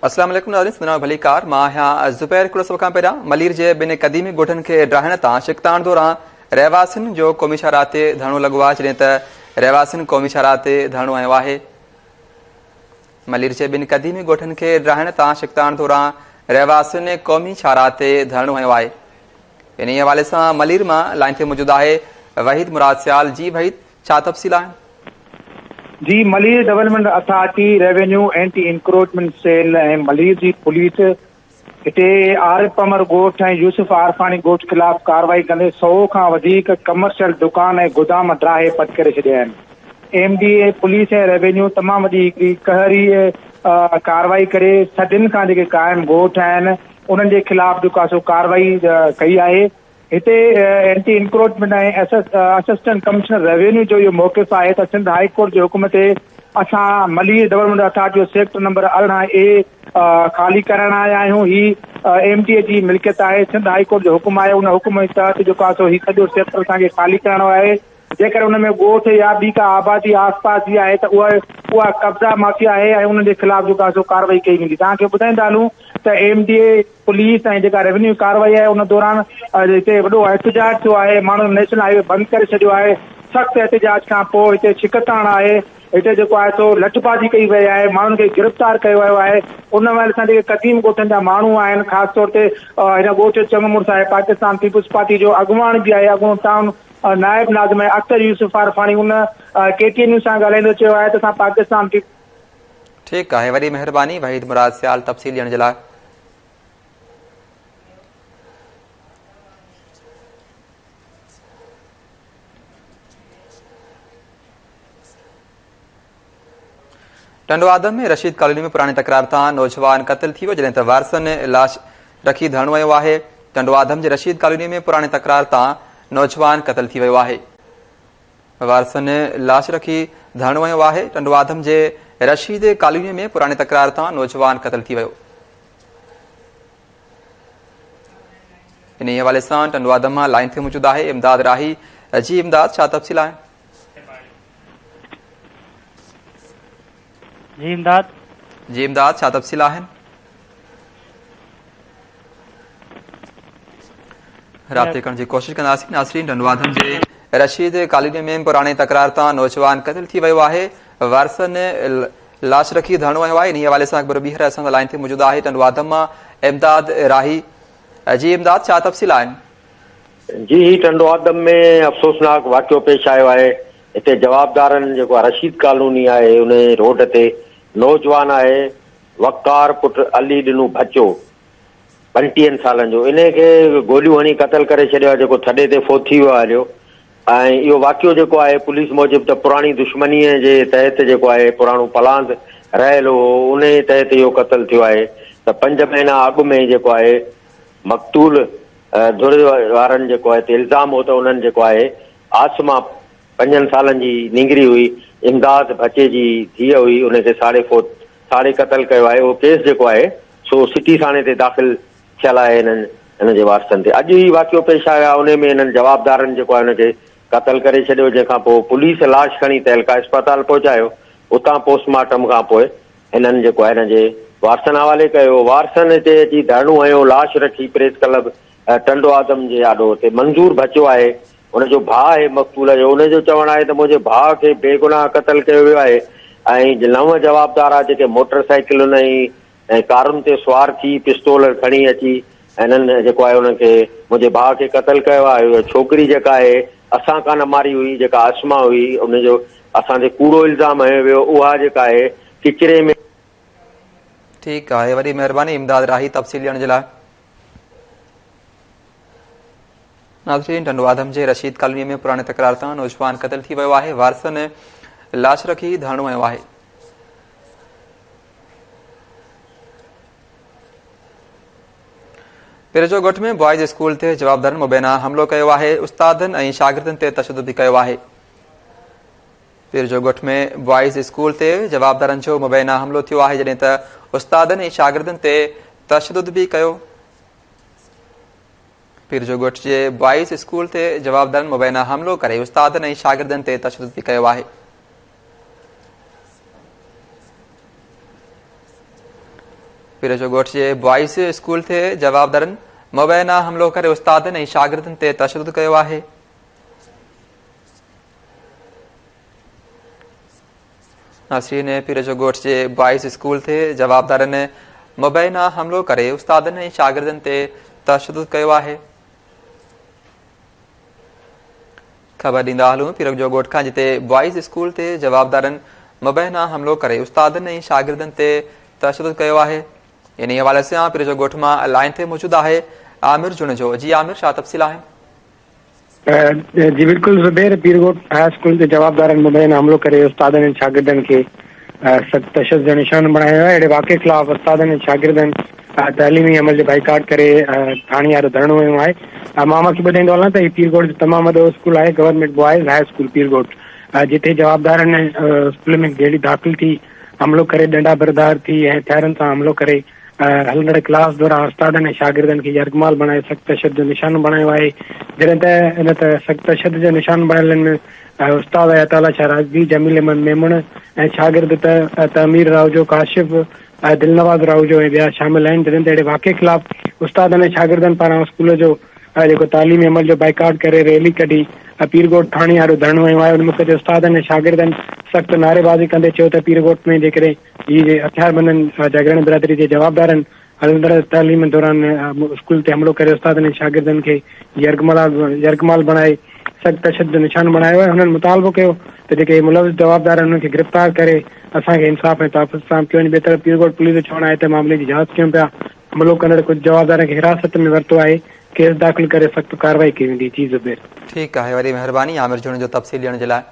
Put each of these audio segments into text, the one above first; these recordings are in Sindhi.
السلام عليڪم ناظرين سندن ڀليڪار مان آهيان زبير هڪڙو سو کان پهريان ملير جي ٻن قديمي ڳوٺن کي ڊاهڻ تان شڪتاڻ دوران رهواسين جو قومي شاهراهه تي ڌرڻو لڳو آهي جڏهن ته رهواسين قومي شاهراهه تي ڌرڻو هنيو آهي ملير جي ٻن قديمي ڳوٺن کي ڊاهڻ تان شڪتاڻ دوران رهواسين قومي شاهراهه تي ڌرڻو هنيو آهي انهي حوالي سان ملير مان لائن تي موجود آهي وحيد مراد سيال جي وحيد ڇا تفصيل آهن؟ جي Malir development authority, revenue anti encroachment cell ۽ Malir جي پوليس هتي عارف پمر ڳوٺ ۽ يوسف عارفاڻي ڳوٺ خلاف ڪارروائي ڪندي سؤ کان وڌيڪ ڪمرشل دڪان ۽ گودام ڊاهي پٽ ڪري ڇڏيا آهن. M D A, police ۽ revenue تمام وڏي هڪڙي قهري ڪارروائي ڪري صدين کان جيڪي قائم ڳوٺ آهن انهن جي خلاف جيڪو سو ڪارروائي ڪئي آهي هتي anti encroachment ۽ assistant commissioner revenue جو اهو موقف آهي ته سنڌ هاء ڪورٽ جي حڪم تي اسان ملير ڊولپمينٽ اٿارٽي جو سيڪٽر نمبر ارڙهن اي خالي ڪرائڻ آيا آهيون هي ايم ڊي اي جي ملڪيت آهي سنڌ هاء ڪورٽ جو حڪم آهي ان حڪم جي تحت جيڪو آهي سو هي سڄو سيڪٽر اسان کي خالي ڪرائڻو آهي جيڪڏهن ان ۾ ڳوٺ يا ٻي ڪا آبادي آس پاس جي آهي ته اها اها قبضا مافيا آهي ۽ انهن جي خلاف جيڪو آهي سو ڪارروائي ڪئي ويندي توهان کي ٻڌائيندا هلون ته ايم ڊي اي پوليس ۽ جيڪا روينيو ڪارروائي آهي ان دوران هتي وڏو احتجاج ٿيو آهي ماڻهن نيشنل هاء وي بند ڪري ڇڏيو آهي سخت احتجاج کان پوء هتي ڇڪتاڻ آهي هتي جيڪو آهي سو لٺ بازي ڪئي وئي آهي ماڻهن کي گرفتار ڪيو ويو آهي ان ويل سان جيڪي قديم ڳوٺن جا ماڻهو آهن خاص طور تي هن ڳوٺ جو چڱ مڙس آهي پاڪستان پيپلز پارٽي جو اڳواڻ به آهي اڳوڻو ٽاؤن نائب ناظم اختر يوسف عارفاڻي ان ڪي ٽي اين نيوز سان ڳالهائيندي چيو آهي ته اسان پاڪستان ٺيڪ آهي وڏي مهرباني وحيد مراد سيال تفصيل ڏيڻ جي لاء ٽنڊو آدم ۾ رشيد ڪالوني ۾ پراڻي تڪرار تان نوجوان قتل ٿي ويو جڏهن ته وارثن لاش رکي ڌرڻو ويو آهي ٽنڊو آدم جي رشيد ڪالوني ۾ پراڻي تڪرار تان نوجوان قتل ٿي ويو آهي وارثن لاش رکي ڌرڻو هنيو آهي، ٽنڊوآدم جي رشيد ڪالوني ۾ پراڻي تڪرار تان نوجوان قتل ٿي ويو، انهي حوالي سان ٽنڊوآدم مان لائين تي موجود آهي امداد راهي، جي امداد ڇا تفصيل آهن؟ جي امداد. جي امداد ڇا تفصيل آهن؟ رابطي ڪرڻ جي ڪوشش ڪنداسين ناصرين رنوادن جي رشيد ڪاليني ۾ پراڻي تڪرار تان نوجوان قتل ٿي ويو آهي وارثن لاش رکي ڌرڻو هنيو آهي انهي حوالي سان اڪبر ٻيهر اسان سان لائن تي موجود آهي ٽنڊوادم مان امداد راهي جي امداد ڇا تفصيل آهن جي هي ٽنڊوآدم ۾ افسوسناڪ واقعو پيش آيو آهي، هتي جوابدارن جيڪو رشيد ڪالوني آهي انهي روڊ تي نوجوان آهي وقار پٽ علي ڏنو ڀچو پنٽيهن سالن جو انهي کي گوليون هڻي قتل ڪري ڇڏيو آهي جيڪو ٿڏي تي فوت ٿي ويو آهي هليو ۽ اهو واقعو جيڪو آهي پوليس موجب ته پراڻي دشمنيء جي تحت جيڪو آهي پراڻو پلاند رهيل هو انهي تحت اهو قتل ٿيو آهي ته پنج مهينا اڳ ۾ جيڪو آهي مقتول ڌر وارن جيڪو آهي تي الزام هو ته انهن جيڪو آهي عاصمه پنجن سالن جي نينگري هئي امداد ڀچي جي ڌيء هئي ان کي ساڙي فوت ساڙي قتل ڪيو آهي اهو ڪيس جيڪو آهي سو سٽي ٿاڻي تي داخل ٿيل آهي انهن ان جي وارثن تي اڄ هي واقعو پيش آيو آهي انهي ۾ انهن جوابدارن جيڪو آهي ان کي قتل ڪري ڇڏيو جنهن کان پوء پوليس لاش کڻي تعلقه اسپتال پهچايو اتان پوسٽ مارٽم کان پوء هنن جيڪو آهي هن جي وارثن حوالي ڪيو، وارثن هتي اچي ڌرڻو هنيو، لاش رکي پريس ڪلب ٽنڊوآدم جي آڏو هتي منظور ڀچو آهي ان جو ڀاء آهي مقتول جو ان جو چوڻ آهي ته منهنجي ڀاء کي بيگناهه قتل ڪيو ويو آهي ۽ نو جوابدار آهي جيڪي موٽر سائيڪلن ۽ ۽ ڪارن تي سوار ٿي پستول کڻي اچي هنن جيڪو آهي انهن کي منهنجي ڀاء کي قتل ڪيو آهي اهو ڇوڪري جيڪا آهي اسان ڪا نه ماري هئي جيڪا اسماء هئي ان جو اسان تي ڪوڙو الزام هنيو ويو اها جيڪا آهي ڪچري ۾. ٺيڪ آهي وڏي مهرباني امداد راهي تفصيل ڏيڻ جي لاء. ناظرين ٽنڊوآدم جي رشيد ڪالوني ۾ پراڻي تڪرار تان نوجوان قتل ٿي ويو آهي وارثن لاش رکي ڌرڻو هنيو آهي پيرجو ڳوٺ ۾ بوائز اسڪول تي جوابدارن مبينا حملو ڪيو آهي استادن ۽ شاگردن تي تشدد به ڪيو آهي پيرجو ڳوٺ ۾ بوائز اسڪول تي جوابدارن جو مبينا حملو ٿيو آهي جڏهن ته استادن ۽ شاگردن تي تشدد به ڪيو پيرجو ڳوٺ جي بوائز اسڪول تي جوابدارن مبينا حملو ڪري استادن ۽ شاگردن تي تشدد به ڪيو آهي پير جو ڳوٺ جي بوائز اسڪول تي جوابدارن مبينا حملو ڪري استادن ۽ شاگردن تي تشدد ڪيو آهي ناصرين پير جو ڳوٺ جي بوائز اسڪول تي جوابدارن مبينا حملو ڪري استادن ۽ شاگردن تي تشدد ڪيو آهي خبر ڏيندا هلون پيرڪ جو ڳوٺ کان جتي بوائز اسڪول تي جوابدارن مبينا حملو ڪري استادن ۽ شاگردن تي تشدد ڪيو آهي انهي حوالي سان پير جو ڳوٺ مان لائن تي موجود آهي عامر جوڻيجو جي عامر ڇا تفصيل آهن جي بلڪل زبير پير ڳوٺ هاء اسڪول تي جوابدارن مبينا حملو ڪري استادن ۽ شاگردن کي سخت تشدد جو نشانو بڻايو ويو آهي اهڙي واقعي خلاف استادن ۽ شاگردن تعليمي عمل جو بائيڪاٽ ڪري ٿاڻي آڏو ڌرڻو هنيو آهي مان اوهان کي ٻڌائيندو هلان ته هي پيرگوٽ جو تمام وڏو اسڪول آهي government boys high school Pir Goth جتي جوابدارن اسڪول ۾ گيڙي داخل ٿي حملو ڪري ڏنڊا بردار ٿي ۽ هٿيارن سان حملو ڪري هلندڙ ڪلاس دوران استادن ۽ شاگردن کي يرغمال بڻائي سخت تشدد جو نشانو بڻايو آهي جڏهن ته ان ته سخت تشدد جو نشانو بڻيلن استاد عطا الله شاهه راشدي جميل احمد ميمڻ ۽ شاگرد ته تعمير راهوجو ڪاشف دلنواز راهوجو ۽ ٻيا شامل آهن جڏهن ته اهڙي واقعي خلاف استادن ۽ شاگردن پاران اسڪول جو جيڪو تعليمي عمل جو بائيڪاٽ ڪري ريلي ڪڍي پيرڳوٺ ٿاڻي آڏو ڌرڻو هنيو آهي ان موقعي تي استادن ۽ شاگردن سخت نعريبازي ڪندي چيو ته پيرڳوٺ ۾ جيڪڏهن جي جي هٿياربندن جاگيراڻي برادري جي جوابدارن هلندڙ تعليم دوران اسڪول تي حملو ڪري استادن ۽ شاگردن کي يرغمال بڻائي سخت تشدد جو نشان بڻايو آهي هنن مطالبو ڪيو ته جيڪي ملوث جوابدار آهن انهن کي گرفتار ڪري اسان کي انصاف ۽ تحفظ فراهم ڪيو وڃي ٻئي طرف پيرگوٽ پوليس جو چوڻ آهي ته معاملي جي جاچ ڪيون پيا حملو ڪندڙ ڪجهه جوابدارن کي حراست ۾ ورتو آهي ڪيس داخل ڪري سخت ڪارروائي ڪئي ويندي جي زبير. ٺيڪ آهي وڏي مهرباني عامر جوڻيجو تفصيل ڏيڻ جي لاء.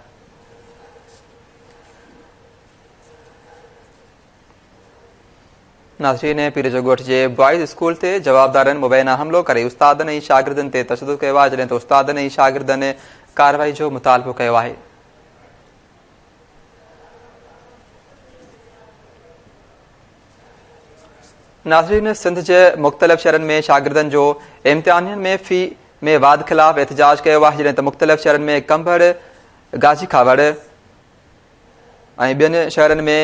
ناظرين پير جو ڳوٺ جي بوائز اسڪول تي جوابدارن مبينا حملو ڪري استادن ۽ شاگردن تي تشدد ڪيو آهي جڏهن ته استادن ۽ شاگردن ڪارروائي جو مطالبو ڪيو آهي ناظرين سنڌ جي مختلف شهرن ۾ شاگردن جو امتحانين ۾ في ۾ واڌ خلاف احتجاج ڪيو آهي جڏهن ته مختلف شهرن ۾ ڪنڀڙ گاجي کاوڙ ۽ ٻين شهرن ۾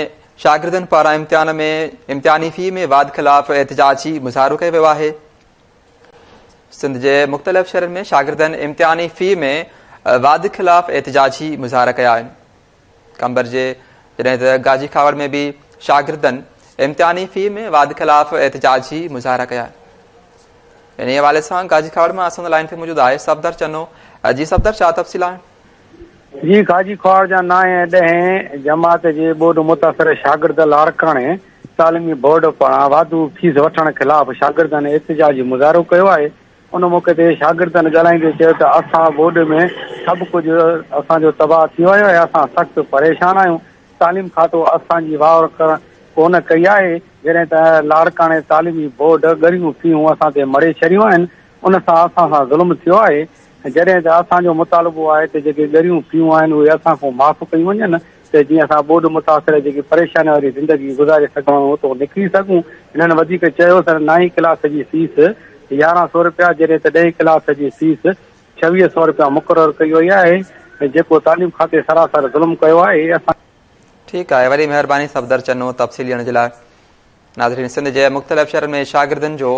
شاگردن پاران امتحان ۾ امتحاني في ۾ واڌ خلاف احتجاجي مظاهرو ڪيو ويو آهي سنڌ جي مختلف شهرن ۾ شاگردن امتحاني في ۾ واڌ خلاف احتجاجي مظاهرا ڪيا آهن قمبر جي جڏهن ته گاجي کاوڙ ۾ به شاگردن امتحاني في ۾ واڌ خلاف احتجاجي مظاهرا ڪيا آهن ان حوالي سان گاجي کاوڙ مان اسان لائن تي موجود آهي صفدر چنو جي صفدر ڇا تفصيل آهن جي خواجي خوار جا نائين ۽ ڏهين جماعت جي ٻوڏ متاثر شاگرد لاڙڪاڻي تعليمي بورڊ پاران واڌو فيس وٺڻ خلاف شاگردن احتجاجي مظاهرو ڪيو آهي ان موقعي تي شاگردن ڳالهائيندي چيو ته اسان ٻوڏ ۾ سڀ ڪجهه اسان جو تباهه ٿي ويو آهي اسان سخت پريشان آهيون تعليم کاتو اسان جي واهر ڪونه ڪئي آهي جڏهن ته لاڙڪاڻي تعليمي بورڊ ڳريون فيون اسان تي مڙهي ڇڏيون آهن ان سان اسان سان ظلم ٿيو آهي ۽ جڏهن ته اسان جو مطالبو آهي ته جيڪي ڳريون فيون آهن اهي اسان کان معاف ڪيون وڃن ته جيئن اسان ٻوڏ متاثر جيڪي پريشانين واري زندگي گذاري سگهون ۽ اتو نڪري سگهون. هنن وڌيڪ چيو ته نائين ڪلاس جي فيس يارهن سؤ رپيا جڏهن ته ڏهين ڪلاس جي فيس ڇويهه سؤ رپيا مقرر ڪئي وئي آهي ۽ جيڪو تعليم کاتي سراسر ظلم ڪيو آهي اسان ٺيڪ آهي وري مهرباني صفدر چنو تفصيل ڏيڻ جي لاء ناظرين سنڌ جي مختلف شهرن ۾ شاگردن جو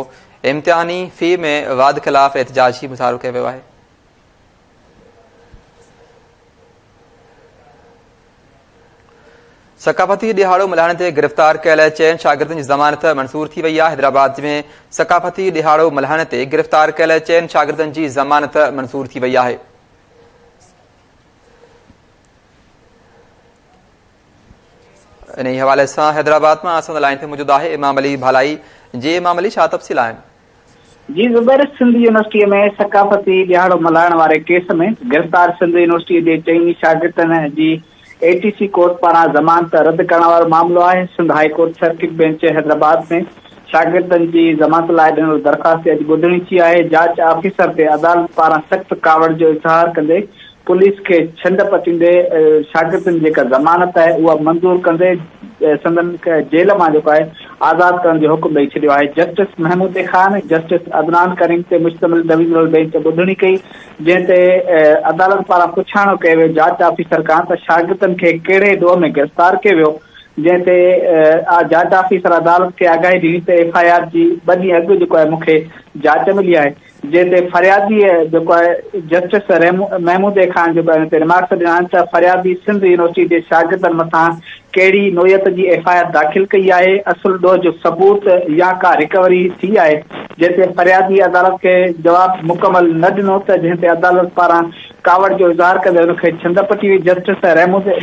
امتحاني في ۾ واڌ خلاف احتجاج جي مظاهرو ڪيو ويو آهي ثقافتي ڏيهاڙو ملهائڻ تي گرفتار ڪيل چئن شاگردن جي ضمانت منظور ٿي وئي آهي حيدرآباد ۾ ثقافتي ڏيهاڙو ملهائڻ تي گرفتار ڪيل چئن شاگردن جي ضمانت منظور ٿي وئي آهي انهي حوالي سان حيدرآباد مان اسان لائن تي موجود آهي امام علي ڀالائي جي امام علي ڇا تفصيل آهن. جي زبير سنڌ يونيورسٽي ۾ ثقافتي ڏهاڙو ملهائڻ واري ڪيس ۾ گرفتار سنڌ يونيورسٽي جي چئني شاگردن جي اي ٽي سي ڪورٽ پاران ضمانت رد ڪرڻ وارو معاملو آهي Sindh high court circuit bench Hyderabad ۾ شاگردن جي ضمانت لاء ڏنل درخواست تي اڄ ٻڌڻي ٿي آهي جاچ آفيسر تي عدالت پاران سخت ڪاوڙ جو اظهار ڪندي پوليس کي ڇنڊ پچيندي شاگردن جيڪا ضمانت آهي اها منظور ڪندي سندن جيل مان جيڪو آهي آزاد ڪرڻ جو حڪم ڏئي ڇڏيو آهي جسٽس محمودي خان جسٽس عدنان ڪريم تي مشتمل ڊويزنل بينچ ٻڌڻي ڪئي جنهن تي عدالت پاران پڇاڻو ڪيو ويو جاچ آفيسر کان ته شاگردن کي ڪهڙي ڏوهه ۾ گرفتار ڪيو ويو جنهن تي جاچ آفيسر عدالت کي آگاهي ڏني ته ايف آء آر جي ٻه ڏينهن اڳ جيڪو آهي مون کي جاچ ملي آهي جنهن تي فرياديء جيڪو آهي جسٽس محمود اي خان جيڪو ان تي ريمارڪس ڏنا آهن ته فريادي سنڌ يونيورسٽي جي شاگردن مٿان ڪهڙي نوعيت جي ايف آء آر داخل ڪئي آهي، اصل ڏوهه جو ثبوت يا ڪا ريڪوري ٿي آهي، جنهن تي فرياديء عدالت کي جواب مڪمل نه ڏنو ته جنهن تي عدالت پاران ڪاوڙ جو اظهار ڪندي ان کي ڇنڊ پٽي وئي، justice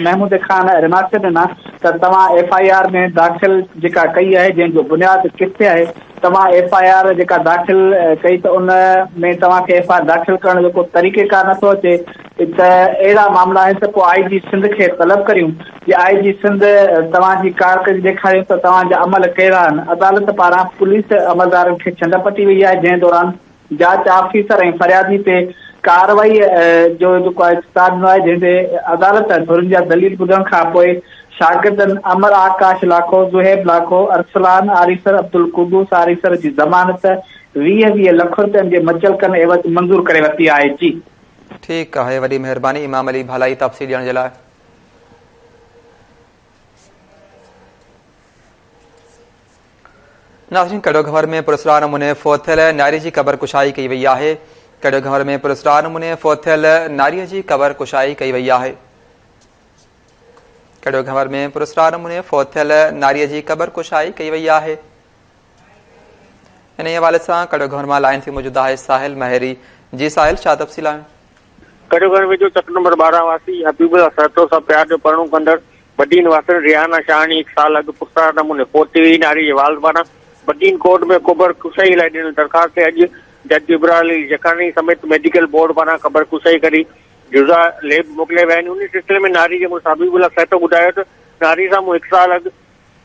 Mahmood A Khan remarks ڏنا ته توهان ايف آء آر ۾ داخل جيڪا ڪئي آهي جنهن جو بنياد ڪٿي آهي؟ توهان ايف آء آر جيڪا داخل ڪئي ته ان ۾ توهان کي ايف آء آر داخل ڪرڻ جو ڪو طريقيڪار نٿو اچي ته اهڙا معاملا آهن ته پوء آء جي سنڌ کي طلب ڪريون جي آء جي سنڌ توهان جي ڪارڪردگي ڏيکاريون ته توهان جا عمل ڪهڙا آهن عدالت پاران پوليس عملدارن کي ڇنڊ پٽي وئي آهي جنهن دوران جاچ آفيسر ۽ فريادي تي ڪارروائي جو جيڪو آهي چتاء ڏنو آهي جنهن تي عدالت ڌرين جا دليل ٻڌڻ کانپوء شاگردن امر آڪاش لاکو، زهيب لاکو، ارسلان آريسر، عبدالقدوس آريسر جي ضمانت ويهه ويهه لک رپين جي مچلڪن عيوض منظور ڪري ورتي آهي جي. ٺيڪ آهي وڏي مهرباني امام علي ڀالائي تفصيل ڏيڻ جي لاء. ناظرين ڪڙو گهنور ۾ پراسرار نموني فوت ٿيل ناري جي قبر ڪشائي ڪئي وئي آهي ڪڙو گهنور ۾ پراسرار نموني فوت ٿيل ناري جي قبر ڪشائي ڪئي وئي آهي ڪڙو گهنور ۾ پراسرار نموني فوت ٿيل ناري جي قبر ڪشائي ڪئي وئي آهي انهي حوالي سان ڪڙو گهنور مان لائن تي موجود آهي ساحل مهيري جي ساحل ڇا تفصيل آهن ڪڙيو گهر ويجهو چڪ نمبر ٻارهن واسي حبيب الله سهتو سان پيار جو پرڻو ڪندڙ وڏي نواسڻ ريحانه شاهاڻي هڪ سال اڳ پرسرار نموني فوت ٿي وئي، ناري جي والد پاران بدين ڪورٽ ۾ قبر ڪشائي لاء ڏنل درخواست تي اڄ جج ابرار علي جکاڻي سميت ميڊيڪل بورڊ پاران قبر ڪشائي ڪري جزا ليب موڪليا ويا آهن، انهي سلسلي ۾ ناري جي مڙس حبيب الله سهتو ٻڌايو ته ناري سان مون هڪ سال اڳ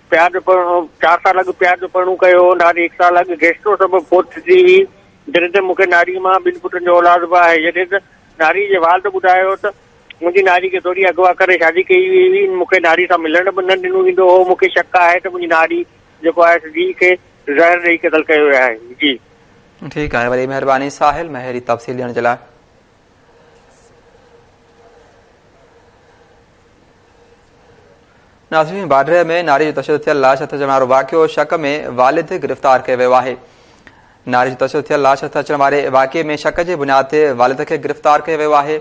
پياج جو پڙهڻو، چار سال اڳ پياج جو پڙهڻو ڪيو هو، ناري هڪ سال اڳ گيسٽرو سبب فوت ٿي ٿي هئي، جڏهن ته مون کي ناري مان ٻن پٽن جو اولاد به آهي، جڏهن ته ناري جي والد ٻڌايو ته منهنجي ناري کي ڌوڙي اغوا ڪري شادي ڪئي وئي هئي، مون کي ناري سان ملڻ به نه ڏنو ويندو هو، مون کي شڪ آهي ته منهنجي ناري جيڪو آهي سو ڌيء کي زهر ڏئي قتل ڪيو ويو آهي. جي. ٺيڪ آهي وري مهرباني ساحل مهيري تفصيل ڏيڻ جي لاء. ناصرين باڊري ۾ ناري جو تشدد ٿيل لاش هٿ اچڻ وارو واقعو شڪ ۾ والد گرفتار ڪيو ويو آهي ناري جو تشدد ٿيل لاش هٿ اچڻ واري واقعي ۾ شڪ جي بنياد تي والد کي گرفتار ڪيو ويو آهي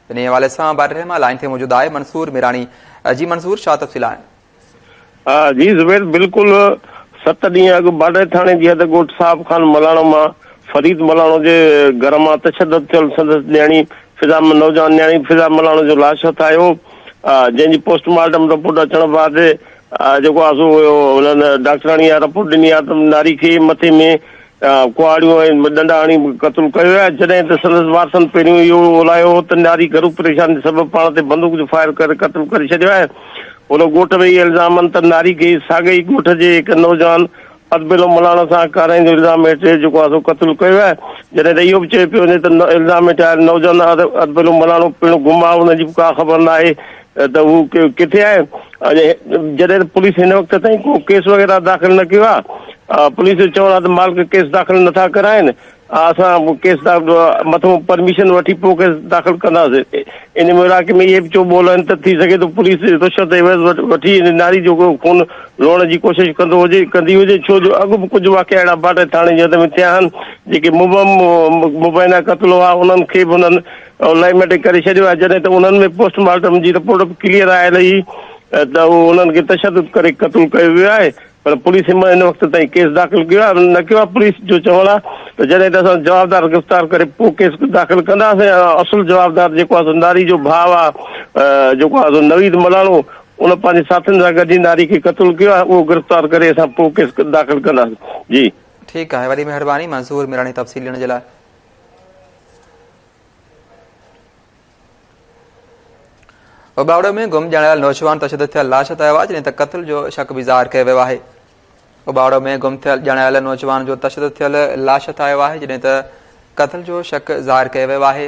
ان حوالي سان باڊري مان لائن تي موجود آهي منصور ميراڻي جي منصور شاهه تفصيل آهن جي زبير بلڪل ست ڏينهن اڳ باڊهه ٿاڻي جي حد ڳوٺ صاحب خان ملاڻو مان فريد ملاڻو جي گهر مان تشدد ٿيل سندس نياڻي فضا نوجوان نياڻي فضا ملاڻو جو لاش هٿ آيو جنهن جي پوسٽ مارٽم رپورٽ اچڻ بعد جيڪو آسو هيو انهن ڊاڪٽراڻي رپورٽ ڏني آتم ناري کي مٿي ۾ ڪهاڙيون ۽ ڏنڊا هڻي قتل ڪيو ويا، جڏهن ته سندس وارثن پهريون اهو اولايو هو ته نياري گهرو پريشاني سبب پاڻ تي بندوق جو فائر ڪري قتل ڪري ڇڏيو آهي. هن ڳوٺ ۾ اهي الزام هن ته نياري کي ساڳئي ئي ڳوٺ جي هڪ نوجوان ادبيلو ملاڻ سان ڪارائين جو الزام هيٺ جيڪو آسو قتل ڪيو ويو آهي، جڏهن ته اهو به چيو پيو وڃي ته الزام هيٺ آيل نوجوان ادبيلو ملاڻو پڻ گم آهي، ان جي به ڪا خبر ناهي ته هو ڪٿي آهي؟ جڏهن پوليس هن وقت تائين ڪو ڪيس وغيره داخل نه ڪيو آهي، پوليس جو چوڻ آهي ته مالڪ ڪيس داخل نٿا ڪرائين، اسان ڪيس مٿئون پرميشن وٺي پوء ڪيس داخل ڪنداسين، ان مورائڪي ۾ اهي به چو ٻول آهن ته ٿي سگهي ٿو پوليس رشوت عيوض وٺي ان ناري جو خون لوڙڻ جي ڪوشش ڪندو هجي ڪندي هجي ڇو جو اڳ به ڪجهه واقعا اهڙا باڊهه ٿاڻي جي حد ۾ ٿيا آهن جيڪي مبينا قتل هئا انهن کي به انهن آن لائين ميٽرڪ ڪري ڇڏيو آهي جڏهن ته انهن ۾ پوسٽ مارٽم جي رپورٽ به ڪليئر آيل هئي ته انهن کي تشدد ڪري قتل ڪيو ويو آهي پر پوليس هن وقت تائين ڪيس داخل ڪيو آهي نه ڪيو آهي پوليس جو چوڻ آهي ته جڏهن ته اسان جوابدار گرفتار ڪري پوء ڪيس داخل ڪنداسين اصل جوابدار جيڪو آهي ناري جو ڀاء آهي جيڪو آهي نويد ملاڻو ان پنهنجي ساٿين سان گڏجي ناري کي قتل ڪيو آهي اهو گرفتار ڪري اسان پوء ڪيس داخل ڪنداسين جي ٺيڪ آهي وڏي مهرباني منظور ميراڻي تفصيل ڏيڻ جي لاء اوٻاڙو ۾ گم ڄاڻايل نوجوان تشدد ٿيل لاش هٿ آيو آهي جڏهن ته قتل جو شڪ به ظاهر ڪيو ويو آهي اوٻاڙو ۾ گم ٿيل ڄاڻايل نوجوان جو تشدد ٿيل لاش هٿ آيو آهي جڏهن ته قتل جو شڪ ظاهر ڪيو ويو آهي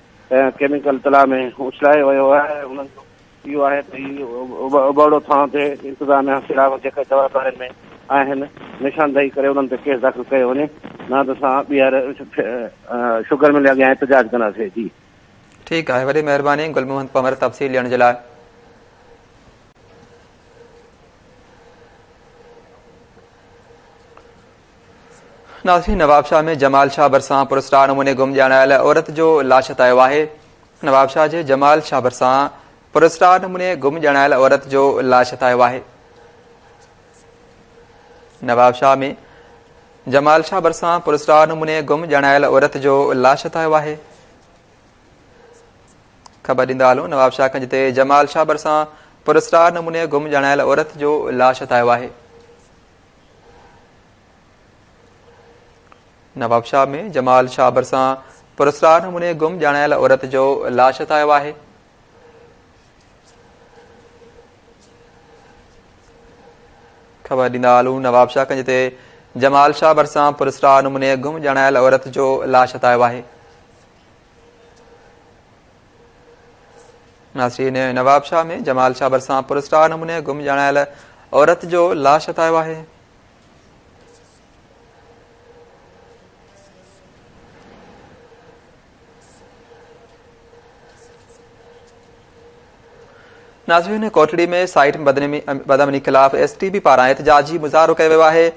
۽ ڪيميڪل تلاء ۾ اڇلائي ويو آهي ۽ انهن جو اهو آهي ته هي ابڙو ٿانو تي انتظاميا خلاف جيڪي جواب ڏارين ۾ آهن نشاندهي ڪري انهن تي ڪيس داخل ڪيو وڃي نه ته اسان ٻيهر شگر مل اڳيان احتجاج ڪنداسين جي ٺيڪ آهي وڏي مهرباني گل محمد پنور تفصيل ڏيڻ جي لاء ناظرين نوابشاهه ۾ جمال شاهه ڀرسان پراسرار نموني گم ڄاڻايل عورت جو لاش هٿ آيو آهي نوابشاهه جي جمال شاهه ڀرسان پراسرار نموني گم ڄاڻايل عورت جو لاش هٿ آيو آهي نوابشاهه ۾ جمال شاهه برسان پرسرار نموني گم ڄاڻايل عورت جو لاش هٿايو آهي خبر ڏيندا هلو نواب شاهه کنج تي جمال شاهه برسان پرسرار نموني گم ڄاڻايل عورت جو لاش هٿايو آهي نوابشاهه ۾ جمال شاهه ڀرسان پراسرار نموني گم ڄاڻايل عورت جو لاش هٿ آيو آهي خبر ڏيندا هلون نوابشاهه ڪنج تي جمال شاهه ڀرسان پرسرا نموني گم ڄاڻايل عورت جو لاش هتايو آهي ناسرين نواب شاهه ۾ جمال شاهه ڀرسان پر اسٽار نموني گم ڄاڻايل عورت جو لاش هتايو آهي ناظرين ڪوٽڙي ۾ سائيٽ بدامني خلاف ايس ٽي بي پاران احتجاجي مظاهرو ڪيو ويو آهي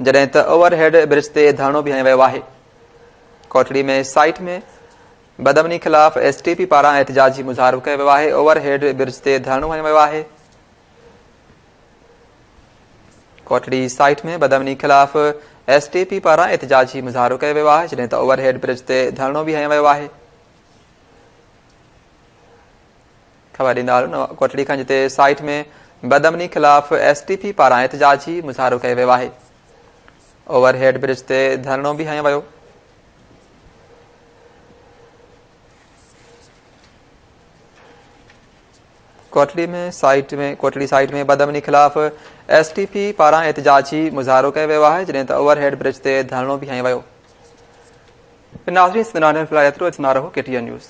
جڏهن ته اوور هيڊ برج تي ڌرڻو به هنيو ويو آهي ڪوٽڙي ۾ سائيٽ ۾ بدامني خلاف ايس ٽي پي پاران احتجاجي مظاهرو ڪيو ويو آهي، اوور هيڊ برج تي ڌرڻو هنيو ويو آهي، ڪوٽڙي سائيٽ ۾ بدامني خلاف ايس ٽي پي پاران احتجاجي مظاهرو ڪيو ويو آهي جڏهن ته اوور هيڊ برج تي ڌرڻو به هنيو ويو آهي. خبر ڏيندارون ڪوٽڙي کان جتي سائيٽ ۾ بدامني خلاف ايس ٽي پي پاران احتجاجي مظاهرو ڪيو ويو آهي اوور هيڊ برج تي ڌرڻو به هنيو ويو ڪوٽڙي ۾ سائيٽ ۾ ڪوٽڙي سائيٽ ۾ بدامني خلاف ايس ٽي پي پاران احتجاجي مظاهرو ڪيو ويو آهي جڏهن ته اوور هيڊ برج تي ڌرڻو بيهايو ويو ناظرين سندن لاء ايترو اتنا رهو ڪي ٽي اين نيوز